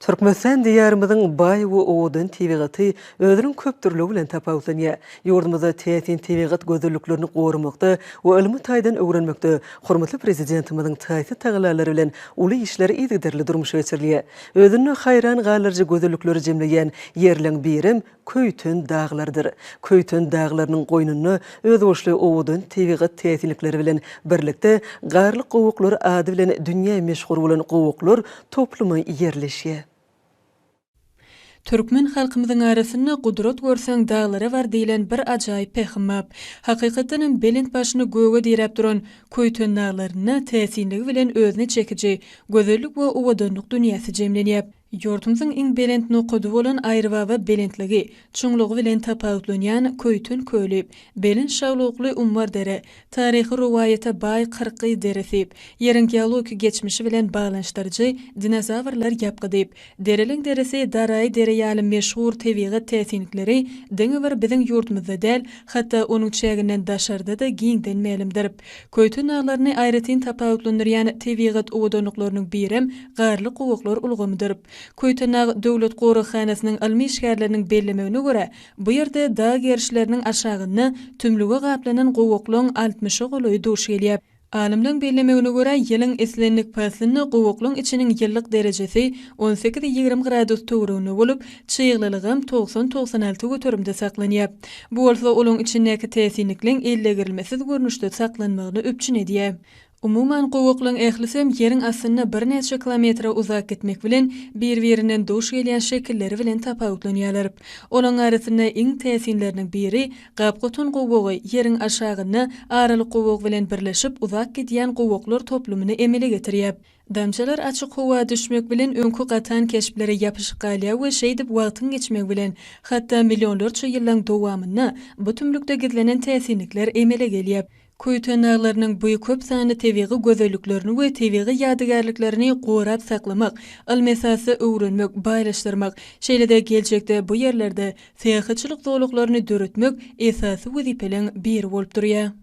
Türkmenistan Diýarymyzyň baý we owadan tebigaty özüniň köpdürlügi bilen tapawutlanýar. Ýurdumyzda täsin tebigat gözelliklerini goramakda we ylmy taýdan öwrenmekde hormatly Prezidentimiziň taýsyz tagallalary bilen uly işler yzygiderli durmuşa geçirilýär. Özünde haýran galdyryjy gözellikleri jemleýän ýerleň birem Köýten daglardyr. Köýten daglarynyň goýnunda özboluşly owadan tebigat täsinlikleri bilen birlikde Garly gowaklar ady bilen dünýä meşhur bolan gowaklar toplumy ýerleşýär. Türkmen halkymyzyň arasynda Gudrat görseň daglara bar diýlen bir ajaýyp pähim bap. Hakykatdan hem belent başyny göge diräp duran Köýten daglarynda täsinligi bilen özüne çekiji gözellik we owadanlyk dünýäsi jemlenýäp. Ýurdumyzyň iň belent nokady bolan Aýrybaba belentligi, çuňlugy bilen tapawutlanýan Köýten köli, belent şaglukly Ummar dere, taryhy rowaýata baý Kyrkgyz deresi, Ýeriň geologik geçmişi bilen baglanyşdyryjy Dinozawrlar ýapgydy, Dereleň deresi, Daraý dere ýaly meşhur tebigat täsinlikleri diňe bir biziň ýurdumyzda däl, hatda onuň çäginden daşarda-da giňden mälimdir. Köýten daglaryny aýratyn tapawutlandyrýan tebigat owadanlyklarynyň birem Garly gowaklar ulgamydyr. Köýtendag döwlet goraghanasynyň ylmy işgärleriniň bellemegine görä, bu ýerde dag gerişleriniň aşagynda tümlüge gaplanan gowaklaň altmyşa golaýy duş gelýär. Alymlaryň bellemegine görä, ýylyň islendik paslynda gowaklaň içiniň ýylylyk derejesi on sekiz-ýigrimi gradus töwereginde bolup, Çyglylygam togsan-togsan alty göterimde saklanýar. Bu bolsa olaň içindäki täsinlikleň ellegirilmesiz görnüşde saklanmagyny üpjün edýär. Umuman, gowaklaň ählisem ýeriň astynda birnäçe kilometre uzap gitmek bilen bir-birinden duş gelýän şekilleri bilen tapawutlanýarlar. Olaň arasynda iň täsinleriniň biri gap-gotan gowagy ýeriň aşagynda aralyk gowag bilen birleşip uzap gidýän gowaklar toplumyny emele getirýär. Damjalar açyk howa düşmek bilen öňki gatan keşplere ýapyşyp galýar we şeýdip wagtyň geçmegi bilen, hatda millionlarça ýyllaň dowamynda bu tümlükde gizlenen täsinlikler emele gelýär. Köýten daglarynyň bu köp sanly tebigy gözelliklerini we tebigy ýadygärliklerini gorap saklamak, ylmy esasda öwrenmek, baýlaşdyrmak, şeýle-de geljekde bu ýerlerde syýahatçylyk zolaklaryny döretmek esasy wezipeleň biri bolup durýar.